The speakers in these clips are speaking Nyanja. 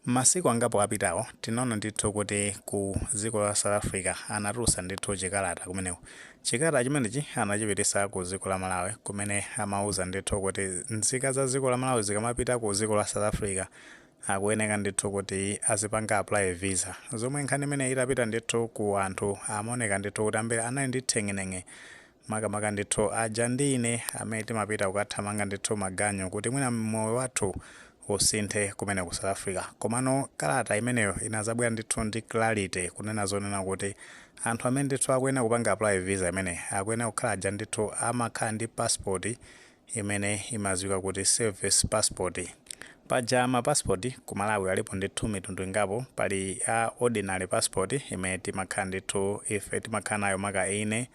Masiku angapo apitawo tinaona ndithu kuti ku dziko la South Africa anatulutsa ndithu chikalata kumeneko. Chikalata chimenechi anachipititsa ku dziko la Malawi kumene amauza ndithu kuti nzika za dziko la Malawi zikamapita ku dziko la South Africa akuyeneka ndithu kuti azipanga apply visa. Zomwe nkhani imeneyi itapita ndithu ku anthu amaoneka ndithu kuti ambiri anali ndi theng'eneng'e makamaka ndithu aja ndi ine amene timapita kukathamanga ndithu maganyu kuti mwina moyo wathu usinthe kumene ku south africa komano kalata imeneyo inazabwera ndithu ndi clarity kunena zonena kuti anthu amene ndithu akuyenera kupanga apply visa imeneyi akuyenera kukhala aja ndithu amakhala ndi passport imene imaziwika kuti service passport. Paja ma passport ku Malawi alipo ndithu mitundu ingapo, pali a ordinary passport imene timakhala ndithu ife timakhala nayo maka ine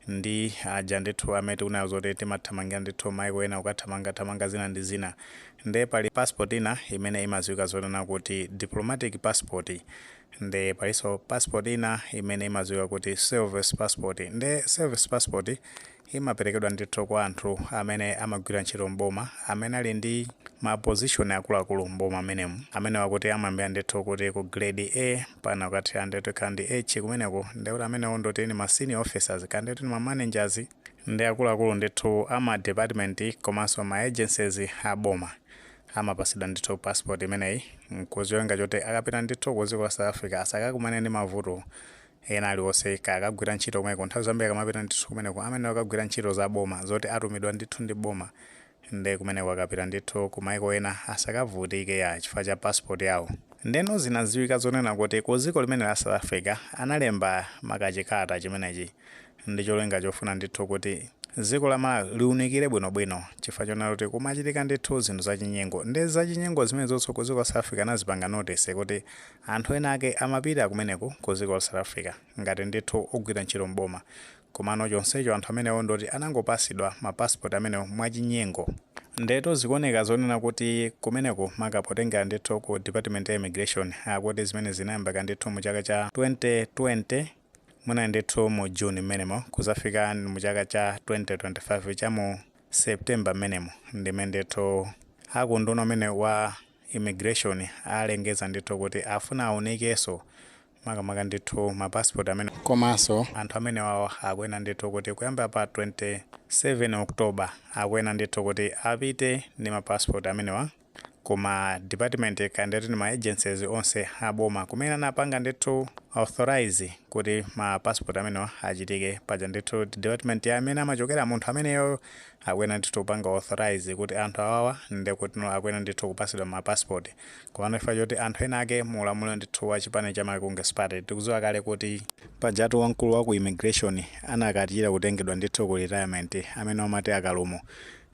ndi aja ndithu amene tikunenawo zoti timathamangira ndithu maiko ena kukathamanga thamanga zina ndi zina. Nde pali passport ina imene imaziwika zonena kuti diplomatic passport. Nde palinso passport ina imene imaziwika kuti service passport. Nde service passport imaperekedwa ndithu kwa anthu amene amagwira ntchito m'boma amene ali ndi ma position akuluakulu m'boma m'menemu. Amenewo akuti amayambira ndithu kuti ku grade A mpakana kukathera ndithu ka ndi H kumeneko ndiye kuti amenewo ndikuti ndi ma senior officers kaya ndikuti ndi ma managers ndi akuluakulu ndithu a ma department komanso ma agencies a boma amapatsidwa ndithu passport imeneyi ndi cholinga choti akapita ndithu ku dziko la South Africa asakakumane ndi mavuto Ena aliwonse kaya akagwira ntchito kumeneko nthawi zambiri akamapita ndithu kumeneko amayenera kukagwira ntchito za boma zoti atumidwa ndithu ndi boma nde kumeneko akapita ndithu ku maiko ena asakavutike ya chifukwa cha passport yawo. Ndeno zinadziwika zonena kuti ku dziko limene la South Africa analemba ma ka chikalata chimenechi ndi cholinga chofuna ndithu kuti dziko la Malawi liunikire bwino bwino chifukwa chonena kuti kumachitika ndithu zinthu za chinyengo nde za chinyengo zimenezo ku dziko la South Africa anazipanga notice kuti Anthu ena ake amapita kumeneku ku dziko la South Africa ngati ndithu ogwira ntchito m'boma komano chonsecho anthu amenewo ndoti anangopasidwa ma passport amenewo mwachinyengo. Ndiyetu zikuoneka zonena kuti kumeneku maka potengera ndithu ku department ya immigration akuti zimenezi zinayambika ndithu mu chaka cha 2020 muja ndithu mu June m'menemo kuzafika mu chaka cha 2025 cha mu September m'menemo ndimene ndithu aku unduna umene wa immigration alengeza ndithu kuti afuna aunikeso makamaka ndithu ma passport amene komaso anthu amenewawo akuena ndithu kuti kuyambira pa 27 October akuena ndithu kuti apite ndi ma passport amenewa kuma department kaya ndeti ndi ma agencies onse aboma kumene anapanga ndithu authorise kuti ma passport amenewa achitike paja ndithu department ya amene amachokera munthu ameneyoyo akuyenera ndithu kupanga authorize kuti anthu awawa ndekutno akuyenera ndithu kupasidwa ma passport komano chifukwa choti anthu ena ake mu ulamuliro ndithu wa chipani cha Malawi Congress Party tikuziwa kale kuti pajatu wamkulu wa ku immigration anakachita kutengedwa ndithu ku retirement amene omati a Kalumo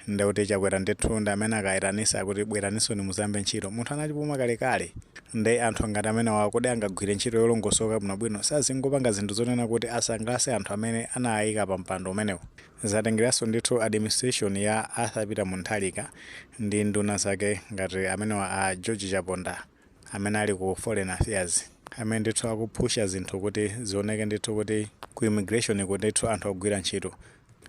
ndekuti Chakwera ndithu ndi amene akaitanisa kuti bweraninsoni muzayambe ntchito munthu anachipuma kalekale nde anthu ngati amenewawa kodi angagwire ntchito yolongosoka bwinobwino sazingopanga zinthu zonena kuti asangalase anthu amene anawaika pa mpando umenewo Zatengeranso ndithu administration ya Arthur Peter Mutharika ndi nduna zake ngati amenewa a George Chaponda amene ali ku foreign affairs amene ndithu akuphusha zinthu kuti zioneke ndithu kuti ku immigration ku ndithu anthu agwira ntchito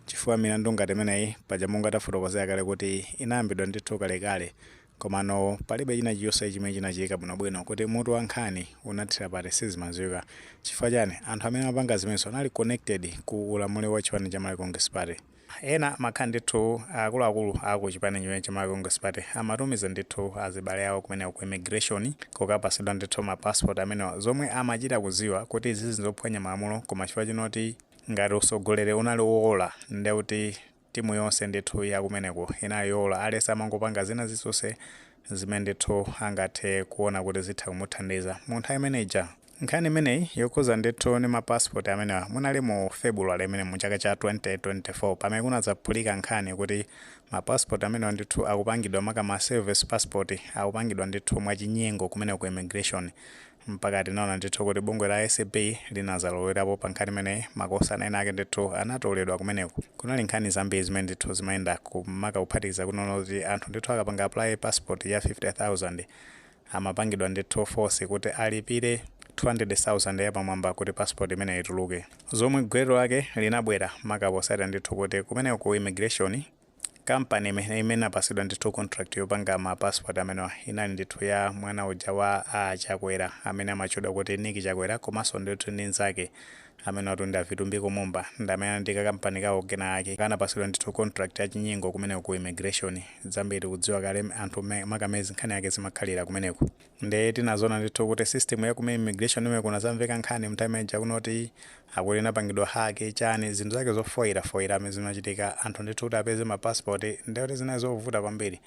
chifukwa milandu ngati imeneyi paja monga tafotokozera kale kuti inayambidwa ndithu kalekale Komano palibe china chilichonse chimene chinachitika bwinobwino kuti mutu wa nkhani unathira pati sizimadziwika. Chifukwa chani? Anthu amene amapanga zimenezo anali connected ku ulamuliro wa chipani cha Malawi Congress Party. Ena amakhala ndithu akuluakulu a ku chipani chimenechi cha Malawi Congress Party amatumiza ndithu azibale awo kumeneko ku immigration kukapatsidwa ndithu ma passport amenewa zomwe amachita kudziwa kuti izizi nzophwanya malamulo koma chifukwa chonoti ngati utsogoleri unali woola ndekuti timu yonse ndithu ya kumeneko inali yowola aliyense amangopanga zina zilizonse zimene ndithu angathe kuona kuti zitha kumuthandiza mu nthawi imene ija. Nkhani imeneyi yokhuza ndithu ndi ma passport amenewa munali mu February imene mu chaka cha 2024 pamene kunadzaphulika nkhani kuti ma passport amenewa ndithu akupangidwa maka ma service passport akupangidwa ndithu mwachinyengo kumeneko ku immigration mpaka tinaona ndithu kuti bungwe la acb linazalowerapo pa nkhani imeneyi makosana ena ake ndithu anatoledwa kumeneko kunali nkhani zambiri zimene ndithu zimayendako maka kuphatikiza kunena kuti anthu ndithu akapanga apply passport ya 50000 amapangidwa ndithu force kuti alipire 200000 yapamwamba kuti passport imeneyi ituluke zomwe gwero lake linabwera maka potsatira ndithu kuti kumeneko ku immigration Company imene imene inapatsidwa ndithu contract yopanga ma passport amenewa inali ndithu ya mwana uja wa a Chakwera amene amatchedwa kuti Nick Chakwera komanso ndithu ndi nzake amenewatu ndi a Vitumbiko Mumba ndi amene anali ndi ka company kawo kena ake kanapatsidwa ndithu contract ya chinyengo kumeneko ku immigration zambiri tikudziwa kale anthu mmene makamezi nkhani yake zimakhalira kumeneko. nde tinazona ndithu kuti system ya ku immigration imene kunazamveka nkhani m'time ija kunoti akuti inapangidwa hack chani zinthu zake zofoira foira amene zimachitika anthu ndithu kuti apeze ma passport ndekuti zinali zovuta kwambiri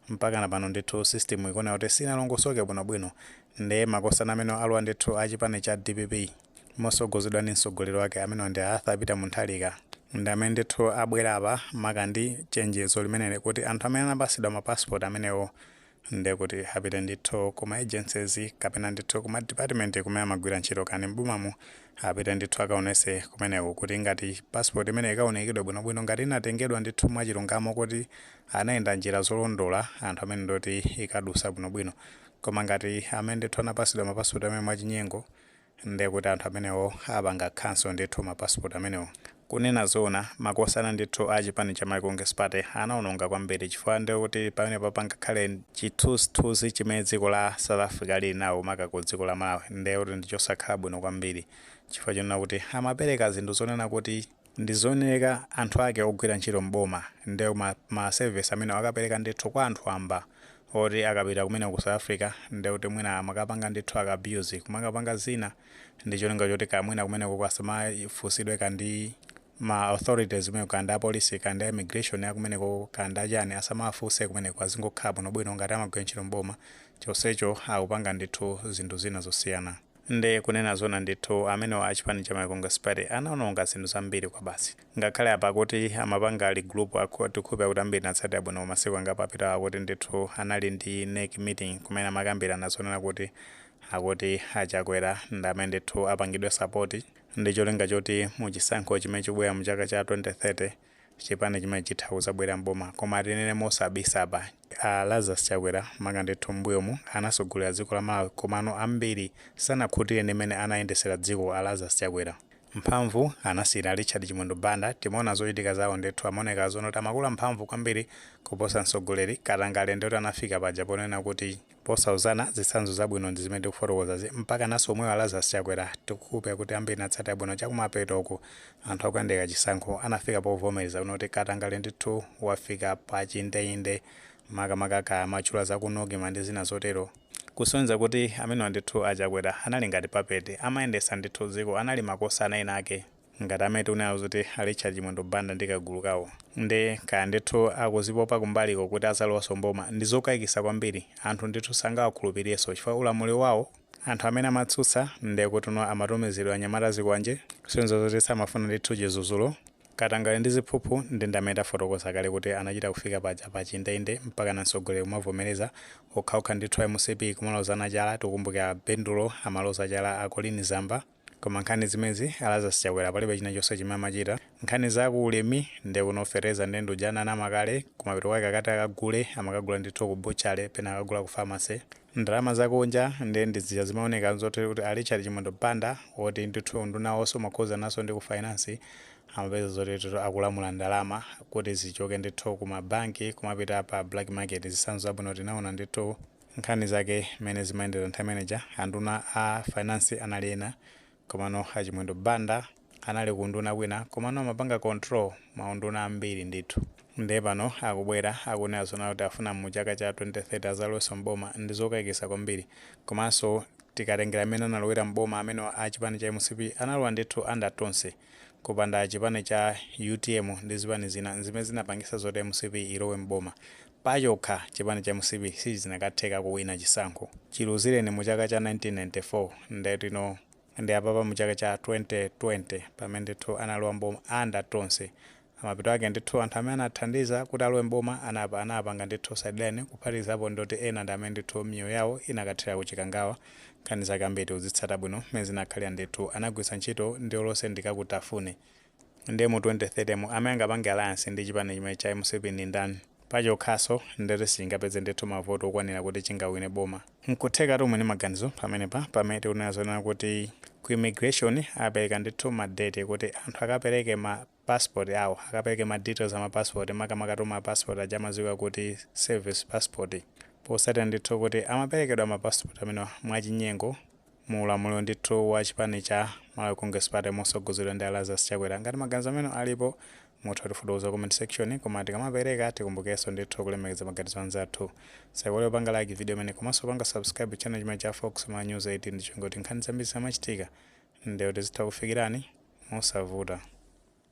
mpakana pano ndithu system ikuoneka kuti sinalongosoke bwinobwino nde makosana amene alowa ndithu a chipani cha dpp mosogozedwa ndi msogoleri wake amenewa ndi a arthur peter mutharika ndi amene ndithu abwera apa maka ndi chenjezo limeneli kuti anthu amene anapasidwa ma passport amenewo nde kuti apite ndithu kuma agencies kapena ndithu kuma department kumene amagwira ntchito kani m'bomamu apite ndithu akaonese kumeneko kuti ngati passport imene ikaonekedwe bwinobwino ngati inatengedwa ndithu mwachilungamo kuti anayenda njira zolondola anthu amenewo ndoti ikadusa bwinobwino koma ngati amene ndithu anapasidwa mapasipoti amene mwachinyengo nde kuti anthu amenewo apanga cancel ndithu ma passport amenewo. kunena zoona makosana ndithu a chipani cha Malawi Congress Party anaononga kwambiri chifukwa nde kuti pamenepa pangakhale chithunzithunzi chimene dziko la South Africa lili nawo maka ku dziko la Malawi nde kuti ndichosakhala bwino kwambiri chifukwa chonena kuti amapereka zinthu zonena kuti Ndi zooneka anthu ake ogwira ntchito m'boma ndi ma service amenewo akapeleka ndithu kwa anthu wamba oti akapita kumeneko ku south africa ndekuti mwina amakapanga ndithu aka abuse kumakapanga zina ndicholinga choti kaya mwina kumenekoko asamafusidwe kaya ndi ma authorities kumeneko kaya ndi apolisi kaya ndi a immigration akumenekoko kaya ndi achani asamawafuse kumeneko azingokhala bwinobwino ngati amagwira ntchito m'boma chonsecho akupanga ndithu zinthu zina zosiyana Nde kunena zoona ndithu amenewa achipani cha Malawi Congress Party anaononga zinthu zambiri kwabasi. Ngakhale apa akuti amapanga regroup aku tikukhulupira kuti ambiri mwatsatira bwino mu masiku angapo apitawa akuti ndithu anali ndi nec meeting kumene amakambirana zonena kuti akuti a Chakwera ndi amene ndithu apangidwe support ndi cholinga choti mu chisankho chimene chikubwera mu chaka cha 2030 chipani chimene chitha kuzabwera m'boma koma tinene mosabisa apa a Lazarus Chakwera maka ndithu m'mbuyomu anasogolera dziko la Malawi komano ambiri sanakhutire ndi mmene anayendesera dziko a Lazarus Chakwera mphamvu anasiyira Richard Chimwendo Banda timaona zochitika zawo ndithu amaoneka zonena kuti amakula mphamvu kwambiri kuposa mtsogoleri katangale nde oti anafika paja ponena kuti Posauzana zitsanzo zabwino ndi zimene tikufotokozazi mpakananso omwewo a Lazarus Chakwera tikukhulupira kuti ambiri mwatsatira bwino chakumapeto uku anthu akuyandikira chisankho anafika povomereza kunena kuti katangale ndithu wafika pa chindeinde makamaka kaya amatchula za ku Nocma ndi zina zotero kusonyeza kuti amenewa ndithu a Chakwera anali ngati puppet amayendetsa ndithu dziko anali makosana ena ake. Ngati amene tikunenazo a Richard Chimwendo Banda ndi kagulu kawo nde kaya ndithu akuzipopa kumbaliko kuti azalowanso m'boma ndi zokaikisa kwambiri, anthu ndithu sangawakhulupilirenso chifukwa ulamuliro wawo anthu amene amatsutsa nde kutinso amatumizidwa anyamata azikwanje, kusonyeza zoti samafuna ndithu chizudzulo, katangale ndi ziphuphu nde ndi amene tafotokoza kale kuti anachita kufika paja pa chindeinde mpakana mtsogoleri kumavomereza, okhaokha ndithu a mcp kumalozana chala, tikumbukira a Bendulo amaloza chala a Colleen Zamba. Koma nkhani zimezi a Lazarus Chakwera palibe china chonse chimene amachita nkhani za ku ulimi nde ku fertilizer nde ndiuja ananama kale kumapeto kwake akati akagule amakagula ndithu ku butchery pena akagula ku pharmacy ndalama za kunja nde ndi zija zimaoneka zoti kuti a Richard Chimwendo Banda woti ndithu unduna wonse umakhuzanaso ndi ku finance amapeza zoti akulamula ndalama kuti zichoke ndithu ku ma bank kumapita pa black market zitsanzo zabwino tinaona ndithu Nkhani zake mmene zimayendera nthawi imeneija anduna a finance anali ena komano a Chimwendo Banda anali ku unduna kwina komano amapanga control ma unduna ambiri ndithu nde pano akubwera akunena zonena kuti afuna mu chaka cha 2030 azalowenso m'boma ndi zokaikisa kwambiri komanso tikatengera mmene analowera m'boma amenewa a chipani cha mcp analowa ndithu under Tonse kupanda chipani cha utm ndi zipani zina zimene zinapangisa zoti mcp ilowe m'boma Pachokha, chipani cha mcp sizinakatheka kuwina chisankho. Chiluzireni mu chaka cha 1994 nde tino ndi apapa mu chaka cha 2020 pamene ndithu analowa m'boma under Tonse. Mapeto ake ndithu anthu amene anathandiza kuti alowe m'boma anawapanga ndithu sideline kuphatikizapo ndoti ena ndi amene ndithu miyoyo yawo inakathera ku Chikangawa. Nkhani zake ambiri tikuzitsata bwino m'mene zinakhalira ndithu anagwiritsa ntchito ndiye olo sitikukufunani. Ndiye mu 2030 mu amene angapange alliance ndi chipani chimenechi cha mcp ndi ndani? Pachokhanso nde kuti sichingapeze ndithu ma vote okwanira kuti chingawine boma. Nkuthekatu muli ndi maganizo pamenepa pamene tikunena zonena kuti ku immigration apereka ndithu ma date kuti anthu akapereke ma passport awo, akapereke ma details a ma passport makamakatu ma passport aja amadziwika kuti service passport potsatira ndithu kuti amaperekedwa ma passport amenewa mwachinyengo. mu ulamuliro ndithu wa chipani cha Malawi Congress Party mosogozedwa ndi a Lazarus Chakwera. Ngati maganizo anu alipo mutha kutifotokoza ku comment section koma tikamapereka tikumbukeso ndithu kulemekeza maganizo anzathu. Musaiwale kupanga like video imeneyi komaso kupanga subscribe channel chimene cha Fox Malawi News 18 ndi cholinga kuti nkhani zambiri zikamachitika nde kuti zitha kukufikirani mosavuta.